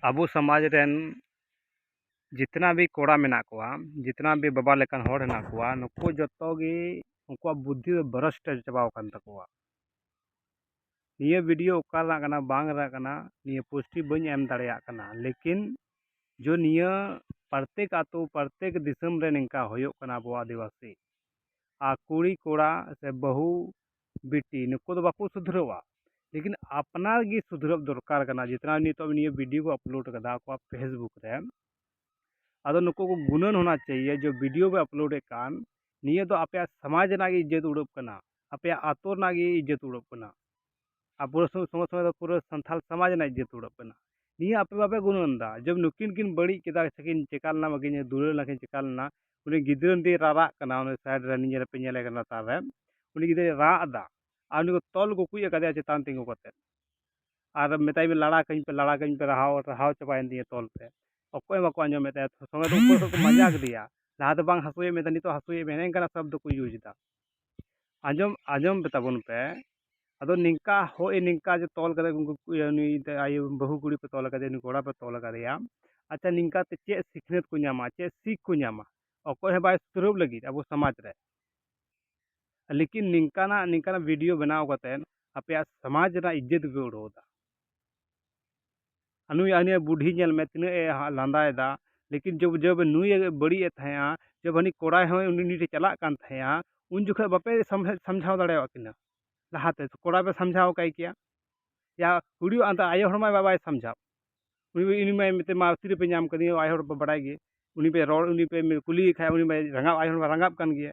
ᱟᱵᱚ ᱥᱚᱢᱟᱡᱽ ᱨᱮᱱ ᱡᱤᱛᱱᱟ ᱵᱷᱤ ᱠᱚᱲᱟ ᱢᱮᱱᱟᱜ ᱠᱚᱣᱟ ᱡᱤᱛᱱᱟ ᱵᱷᱤ ᱵᱟᱵᱟ ᱞᱮᱠᱟᱱ ᱦᱚᱲ ᱦᱮᱱᱟᱜ ᱠᱚᱣᱟ ᱱᱩᱠᱩ ᱡᱚᱛᱚ ᱜᱮ ᱩᱱᱠᱩᱣᱟᱜ ᱵᱩᱫᱽᱫᱷᱤ ᱫᱚ ᱵᱷᱨᱚᱥᱴ ᱪᱟᱵᱟᱣ ᱟᱠᱟᱱ ᱛᱟᱠᱚᱣᱟ ᱱᱤᱭᱟᱹ ᱵᱷᱤᱰᱤᱭᱳ ᱚᱠᱟ ᱨᱮᱱᱟᱜ ᱠᱟᱱᱟ ᱵᱟᱝ ᱨᱮᱱᱟᱜ ᱠᱟᱱᱟ ᱱᱤᱭᱟᱹ ᱯᱳᱥᱴ ᱜᱮ ᱵᱟᱹᱧ ᱮᱢ ᱫᱟᱲᱮᱭᱟᱜ ᱠᱟᱱᱟ ᱞᱮᱠᱤᱱ ᱡᱚ ᱱᱤᱭᱟᱹ ᱯᱨᱚᱛᱮᱠ ᱟᱛᱳ ᱯᱨᱚᱛᱮᱠ ᱫᱤᱥᱚᱢ ᱨᱮ ᱱᱤᱝᱠᱟ ᱦᱩᱭᱩᱜ ᱠᱟᱱᱟ ᱟᱵᱚ ᱟᱹᱫᱤᱵᱟᱹᱥᱤ ᱟᱨ ᱠᱩᱲᱤ ᱠᱚᱲᱟ ᱥᱮ ᱵᱟᱹᱦᱩ ᱵᱤᱴᱤ ᱱᱩᱠᱩ ᱫᱚ ᱵᱟᱠᱚ ᱥᱩᱫᱷᱨᱟᱹᱜᱼᱟ ᱞᱮᱠᱤᱱ ᱟᱯᱱᱟᱨ ᱜᱮ ᱥᱩᱫᱷᱨᱟᱹᱜ ᱫᱚᱨᱠᱟᱨ ᱠᱟᱱᱟ ᱡᱮᱛᱱᱟ ᱱᱤᱛᱚᱜ ᱱᱤᱭᱟᱹ ᱵᱷᱤᱰᱭᱳ ᱠᱚ ᱟᱯᱞᱳᱰ ᱠᱟᱫᱟ ᱟᱠᱚᱣᱟᱜ ᱯᱷᱮᱥᱵᱩᱠ ᱨᱮ ᱟᱫᱚ ᱱᱩᱠᱩ ᱠᱚ ᱜᱩᱱᱟᱹᱱ ᱦᱳᱱᱟ ᱪᱟᱦᱤᱭᱮ ᱡᱮ ᱵᱷᱤᱰᱭᱳ ᱵᱚ ᱟᱯᱞᱳᱰ ᱮᱫ ᱠᱟᱱ ᱱᱤᱭᱟᱹ ᱫᱚ ᱟᱯᱮᱭᱟᱜ ᱥᱚᱢᱟᱡᱽ ᱨᱮᱱᱟᱜ ᱜᱮ ᱤᱡᱽᱡᱚᱛ ᱩᱰᱩᱠ ᱠᱟᱱᱟ ᱟᱯᱮᱭᱟᱜ ᱟᱹᱛᱩ ᱨᱮᱱᱟᱜ ᱜᱮ ᱤᱡᱽᱡᱚᱛ ᱩᱰᱩᱠ ᱠᱟᱱᱟ ᱟᱨ ᱯᱩᱨᱟᱹ ᱥᱚᱸᱜᱮ ᱥᱚᱸᱜᱮ ᱫᱚ ᱯᱩᱨᱟᱹ ᱥᱟᱱᱛᱟᱲ ᱥᱚᱢᱟᱡᱽ ᱨᱮᱱᱟᱜ ᱤᱡᱽᱡᱚᱛ ᱩᱰᱩᱠ ᱠᱟᱱᱟ ᱱᱤᱭᱟᱹ ᱟᱯᱮ ᱵᱟᱯᱮ ᱜᱩᱱᱟᱹᱱ ᱮᱫᱟ ᱡᱮ ᱱᱩᱠᱤᱱ ᱠᱤᱱ ᱵᱟᱹᱲᱤᱡ ᱠᱮᱫᱟ ᱥᱮᱠᱤᱱ ᱪᱤᱠᱟᱹ ᱞᱮᱱᱟ ᱵᱟᱠᱤᱱ ᱫᱩᱞᱟᱹᱲ ᱞᱮᱱᱟ ᱥᱮᱠᱤᱱ ᱪᱤᱠᱟᱹ ᱞᱮᱱᱟ ᱩᱱᱤ ᱜᱤᱫᱽᱨᱟᱹ ᱢᱤᱫᱴᱤᱡ ᱨᱟᱨᱟᱜ ᱠᱟᱱᱟ ᱩᱱᱤ ᱥᱟᱭᱤᱰ ᱨᱮ ᱱᱤᱡᱮᱨ ᱯᱮ ᱧᱮᱞᱮ ᱠᱟᱱᱟ ᱞᱟᱛᱟᱨ ᱨᱮ ᱩᱱᱤ ᱜᱤᱫᱽᱨᱟᱹᱭ ᱨᱟᱜ ᱮᱫᱟ ᱟᱨ ᱩᱱᱤ ᱠᱚ ᱛᱚᱞ ᱜᱩᱠᱩᱡ ᱟᱠᱟᱫᱮᱭᱟ ᱪᱮᱛᱟᱱ ᱛᱤᱸᱜᱩ ᱠᱟᱛᱮᱫ ᱟᱨ ᱢᱮᱛᱟᱭ ᱢᱮ ᱞᱟᱲᱟ ᱠᱟᱹᱧ ᱯᱮ ᱞᱟᱲᱟ ᱠᱟᱹᱧ ᱯᱮ ᱨᱟᱦᱟᱣ ᱨᱟᱦᱟᱣ ᱪᱟᱵᱟᱭᱮᱱ ᱛᱤᱧᱟᱹ ᱛᱚᱞ ᱛᱮ ᱚᱠᱚᱭ ᱦᱚᱸ ᱵᱟᱠᱚ ᱟᱸᱡᱚᱢᱮᱫ ᱛᱟᱭᱟ ᱥᱚᱸᱜᱮ ᱛᱮ ᱩᱱᱠᱩ ᱦᱚᱸᱠᱚ ᱯᱟᱸᱡᱟ ᱠᱮᱫᱮᱭᱟ ᱞᱟᱦᱟ ᱫᱚ ᱵᱟᱝ ᱦᱟᱹᱥᱩᱭᱮᱫ ᱢᱮ ᱛᱟᱦᱮᱸᱫ ᱱᱤᱛᱚᱜ ᱦᱟᱹᱥᱩᱭᱮᱫ ᱢᱮᱭᱟ ᱱᱮᱝᱠᱟᱱᱟᱜ ᱥᱚᱵᱽᱫᱚ ᱠᱚ ᱤᱭᱩᱡᱽ ᱮᱫᱟ ᱟᱸᱡᱚᱢ ᱟᱸᱡᱚᱢ ᱯᱮ ᱛᱟᱵᱚᱱ ᱯᱮ ᱟᱫᱚ ᱱᱤᱝᱠᱟ ᱦᱳᱭ ᱱᱤᱝᱠᱟ ᱡᱮ ᱛᱚᱞ ᱠᱟᱛᱮ ᱩᱱᱠᱩ ᱱᱩᱭ ᱟᱭᱳ ᱵᱟᱹᱦᱩ ᱠᱩᱲᱤ ᱯᱮ ᱛᱚᱞ ᱠᱟᱫᱮᱭᱟ ᱱᱩᱭ ᱠᱚᱲᱟ ᱯᱮ ᱛᱚᱞ ᱠᱟᱫᱮᱭᱟ ᱟᱪᱪᱷᱟ ᱱᱤᱝᱠᱟ ᱛᱮ ᱪᱮᱫ ᱥᱤᱠᱷᱱᱟᱹᱛ ᱠᱚ ᱧᱟᱢᱟ ᱪᱮᱫ ᱥᱤᱠ ᱠᱚ ᱧᱟᱢᱟ ᱚᱠᱚᱭ ᱦᱚᱸ ᱵᱟᱭ ᱥᱩᱫᱷᱨᱟᱹᱣ ᱞᱟᱹᱜᱤᱫ ᱟᱵᱚ ᱥᱚᱢᱟᱡᱽ ᱨᱮ ᱞᱮᱠᱤᱱ ᱱᱤᱝᱠᱟᱱᱟᱜ ᱱᱤᱝᱠᱟᱱᱟᱜ ᱵᱷᱤᱰᱤᱭᱳ ᱵᱮᱱᱟᱣ ᱠᱟᱛᱮ ᱟᱯᱮᱭᱟᱜ ᱥᱚᱢᱟᱡᱽ ᱨᱮᱱᱟᱜ ᱤᱡᱽᱡᱚᱛ ᱜᱮᱯᱮ ᱩᱰᱟᱹᱣ ᱮᱫᱟ ᱟᱨ ᱱᱩᱭ ᱦᱟᱹᱱᱤᱭᱟᱹ ᱵᱩᱰᱷᱤ ᱧᱮᱞ ᱢᱮ ᱛᱤᱱᱟᱹᱜ ᱮ ᱞᱟᱸᱫᱟᱭᱮᱫᱟ ᱞᱮᱠᱤᱱ ᱡᱚᱵᱽ ᱡᱚᱵᱽ ᱱᱩᱭ ᱮ ᱵᱟᱹᱲᱤᱡ ᱮᱫ ᱛᱟᱦᱮᱸᱜᱼᱟ ᱡᱚᱵᱽ ᱦᱟᱹᱱᱤ ᱠᱚᱲᱟᱭ ᱦᱚᱸ ᱩᱱᱤ ᱩᱱᱤ ᱴᱷᱮᱱ ᱪᱟᱞᱟᱜ ᱠᱟᱱ ᱛᱟᱦᱮᱸᱜᱼᱟ ᱩᱱ ᱡᱚᱠᱷᱚᱱ ᱵᱟᱯᱮ ᱥᱟᱢᱡᱷᱟᱣ ᱫᱟᱲᱮᱭᱟᱜ ᱠᱤᱱᱟᱹ ᱞᱟᱦᱟ ᱛᱮ ᱠᱚᱲᱟ ᱯᱮ ᱥᱟᱢᱡᱷᱟᱣ ᱠᱟᱭ ᱠᱮᱭᱟ ᱭᱟ ᱠᱩᱲᱤ ᱟᱫᱚ ᱟᱭᱳ ᱦᱚᱲ ᱢᱟ ᱵᱟᱭ ᱥᱟᱢᱡᱷᱟᱣ ᱩᱱᱤ ᱩᱱᱤ ᱢᱟᱭ ᱢᱮᱛᱟᱭ ᱢᱟ ᱛᱤᱨᱮᱯᱮ ᱧᱟᱢ ᱠᱟᱫᱤᱧᱟ ᱟᱭᱳ ᱦᱚᱲ ᱯᱮ ᱵᱟᱲᱟᱭ ᱜᱮ ᱩᱱᱤ ᱯᱮ ᱨᱚᱲ ᱩᱱᱤ ᱯᱮ ᱠᱩᱞᱤᱭᱮ ᱠᱷᱟᱱ ᱩᱱᱤ ᱢᱟᱭ ᱨᱟᱸᱜᱟᱣ ᱟᱭᱳ ᱦᱚᱲ ᱢᱟᱭ ᱨᱟᱸᱜᱟᱣᱜ ᱠᱟᱱ ᱜᱮᱭᱟ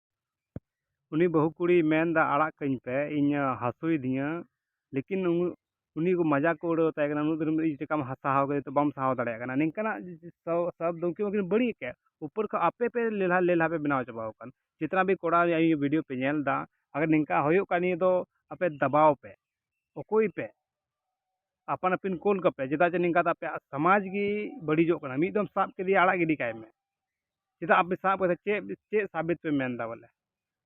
ᱩᱱᱤ ᱵᱟᱹᱦᱩ ᱠᱩᱲᱤᱭ ᱢᱮᱱᱫᱟ ᱟᱲᱟᱜ ᱠᱟᱹᱧ ᱯᱮ ᱤᱧ ᱦᱟᱹᱥᱩᱭᱮᱫᱤᱧᱟ ᱞᱮᱠᱤᱱ ᱩᱱᱤ ᱠᱚ ᱢᱟᱡᱟᱠ ᱠᱚ ᱩᱲᱟᱹᱣ ᱛᱟᱭ ᱠᱟᱱᱟ ᱱᱩᱱᱟᱹᱜ ᱫᱤᱱ ᱤᱧ ᱪᱮᱠᱟᱢ ᱥᱟᱦᱟᱣ ᱠᱮᱫᱮ ᱛᱮ ᱵᱟᱢ ᱥᱟᱦᱟᱣ ᱫᱟᱲᱮᱭᱟᱜ ᱠᱟᱱᱟ ᱱᱤᱝᱠᱟᱱᱟᱜ ᱥᱟᱵ ᱫᱚ ᱩᱱᱠᱤᱱ ᱢᱟᱠᱤᱱ ᱵᱟᱹᱲᱤᱡ ᱟᱠᱟᱫ ᱩᱯᱟᱹᱨ ᱠᱷᱚᱱ ᱟᱯᱮ ᱯᱮ ᱞᱮᱞᱦᱟ ᱞᱮᱞᱦᱟ ᱯᱮ ᱵᱮᱱᱟᱣ ᱪᱟᱵᱟᱣ ᱟᱠᱟᱱ ᱡᱮᱛᱱᱟ ᱵᱷᱤ ᱠᱚᱲᱟ ᱨᱮᱭᱟᱜ ᱤᱭᱟᱹ ᱵᱷᱤᱰᱤᱭᱳ ᱯᱮ ᱧᱮᱞ ᱮᱫᱟ ᱟᱜᱟᱨ ᱱᱤᱝᱠᱟ ᱦᱩᱭᱩᱜ ᱠᱷᱟᱱ ᱱᱤᱭᱟᱹ ᱫᱚ ᱟᱯᱮ ᱫᱟᱵᱟᱣ ᱯᱮ ᱚᱠᱚᱭ ᱯᱮ ᱟᱯᱟᱱ ᱟᱹᱯᱤᱱ ᱠᱩᱞ ᱠᱟᱯᱮ ᱪᱮᱫᱟᱜ ᱡᱮ ᱱᱤᱝᱠᱟ ᱫᱚ ᱟᱯᱮᱭᱟᱜ ᱥᱚᱢᱟᱡᱽ ᱜᱮ ᱵᱟᱹᱲᱤᱡᱚᱜ ᱠᱟᱱᱟ ᱢᱤᱫ ᱫᱚᱢ ᱥᱟᱵ ᱠᱮᱫᱮᱭᱟ ᱟᱲᱟᱜ ᱜᱤᱰᱤ ᱠᱟᱭ ᱢᱮ ᱪᱮᱫᱟᱜ ᱟᱯᱮ ᱥᱟᱵ ᱠᱟᱛᱮ ᱪᱮᱫ ᱪᱮᱫ ᱥᱟᱵᱤᱛ ᱯᱮ ᱢᱮᱱ ᱮᱫᱟ ᱵᱚᱞᱮ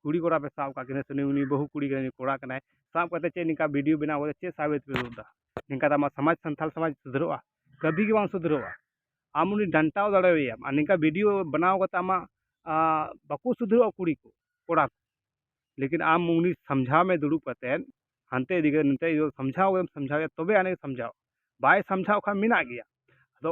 ᱠᱩᱲᱤ ᱠᱚᱲᱟ ᱯᱮ ᱥᱟᱵ ᱟᱠᱟᱫ ᱠᱤᱱᱟᱹ ᱥᱮ ᱱᱩᱭ ᱩᱱᱤ ᱵᱟᱹᱦᱩ ᱠᱩᱲᱤ ᱠᱟᱱᱟᱭ ᱱᱩᱭ ᱠᱚᱲᱟ ᱠᱟᱱᱟᱭ ᱥᱟᱵ ᱠᱟᱛᱮ ᱪᱮᱫ ᱱᱤᱝᱠᱟ ᱵᱷᱤᱰᱤᱭᱳ ᱵᱮᱱᱟᱣ ᱠᱟᱛᱮ ᱪᱮᱫ ᱥᱟᱵᱤᱛ ᱯᱮ ᱩᱫᱩᱜ ᱮᱫᱟ ᱱᱤᱝᱠᱟ ᱫᱚ ᱟᱢᱟᱜ ᱥᱚᱢᱟᱡᱽ ᱥᱟᱱᱛᱟᱲ ᱥᱚᱢᱟᱡᱽ ᱥᱩᱫᱷᱨᱟᱹᱜᱼᱟ ᱠᱟᱹᱵᱷᱤ ᱜᱮ ᱵᱟᱝ ᱥᱩᱫᱷᱨᱟᱹᱜᱼᱟ ᱟᱢ ᱩᱱᱤ ᱰᱟᱱᱴᱟᱣ ᱫᱟᱲᱮᱣᱟᱭᱟᱢ ᱟᱨ ᱱᱤᱝᱠᱟ ᱵᱷᱤᱰᱤᱭᱳ ᱵᱮᱱᱟᱣ ᱠᱟᱛᱮ ᱟᱢᱟᱜ ᱵᱟᱠᱚ ᱥᱩᱫᱷᱨᱟᱹᱜᱼᱟ ᱠᱩᱲᱤ ᱠᱚ ᱠᱚᱲᱟ ᱠᱚ ᱞᱮᱠᱤᱱ ᱟᱢ ᱩᱱᱤ ᱥᱟᱢᱡᱷᱟᱣ ᱢᱮ ᱫᱩᱲᱩᱵ ᱠᱟᱛᱮ ᱦᱟᱱᱛᱮ ᱤᱫᱤ ᱠᱟᱛᱮ ᱱᱚᱛᱮ ᱤᱫᱤ ᱠᱟᱛᱮ ᱥᱟᱢᱡᱷᱟᱣ ᱮᱢ ᱥᱟᱢᱡᱷᱟᱣ ᱮᱭᱟ ᱛᱚᱵᱮ ᱟᱹᱱᱤᱡ ᱥᱟᱢᱡᱷᱟᱣ ᱵᱟᱭ ᱥᱟᱢᱡᱷᱟᱣ ᱠᱷᱟᱱ ᱢᱮᱱᱟᱜ ᱜᱮᱭᱟ ᱟᱫᱚ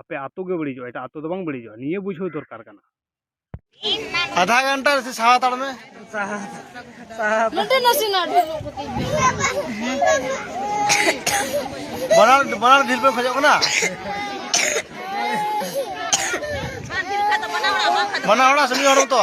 ᱟᱯᱮ ᱟᱛᱳ ᱜᱮ ᱵᱟᱹᱲᱤᱡᱚᱜᱼᱟ ᱮᱴᱟᱜ ᱟᱛᱳ ᱫᱚ ᱵᱟᱝ ᱵᱟᱹᱲᱤᱡᱚᱜᱼᱟ ᱱᱤᱭᱟᱹ ᱵᱩᱡᱷᱟᱹᱣ ᱫᱚᱨᱠᱟᱨ ᱠᱟᱱᱟ ᱟᱫᱷᱟ ᱜᱷᱚᱱᱴᱟ ᱥᱮ ᱥᱟᱦᱟ ᱦᱟᱛᱟᱲ ᱢᱮ ᱥᱟᱦᱟ ᱥᱟᱦᱟ ᱱᱚᱰᱮ ᱱᱟᱥᱮᱱᱟᱜ ᱰᱷᱤᱞᱚᱜ ᱠᱚᱛᱮ ᱵᱟᱱᱟᱨ ᱵᱟᱱᱟᱨ ᱰᱷᱤᱞ ᱯᱮ ᱠᱷᱚᱡᱚᱜ ᱠᱟᱱᱟ ᱵᱟᱱᱟᱨ ᱦᱚᱲᱟᱜ ᱥᱮ ᱢᱤᱫ ᱦᱚᱲ ᱢᱚᱛᱚ